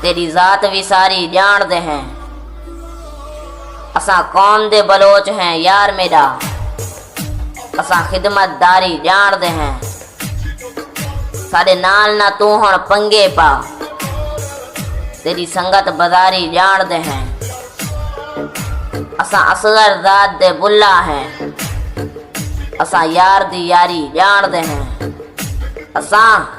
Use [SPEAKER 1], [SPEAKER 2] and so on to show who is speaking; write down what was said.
[SPEAKER 1] تیݙی ذات وی ساری ڄاݨ دے ہیں۔ اساں قوم دے بلوچ ہیں یار میݙا۔ اساں خدمت داری ڄاݨ دے ہیں۔ ساݙے نال نہ توں ہݨ پنگے پا۔ تیݙی سنگت بزاری ڄاݨ دے ہیں۔ اساں اصغر زاد دے بلا ہیں۔ اساں یار دی یاری ڄاݨ دے ہیں۔ اساں۔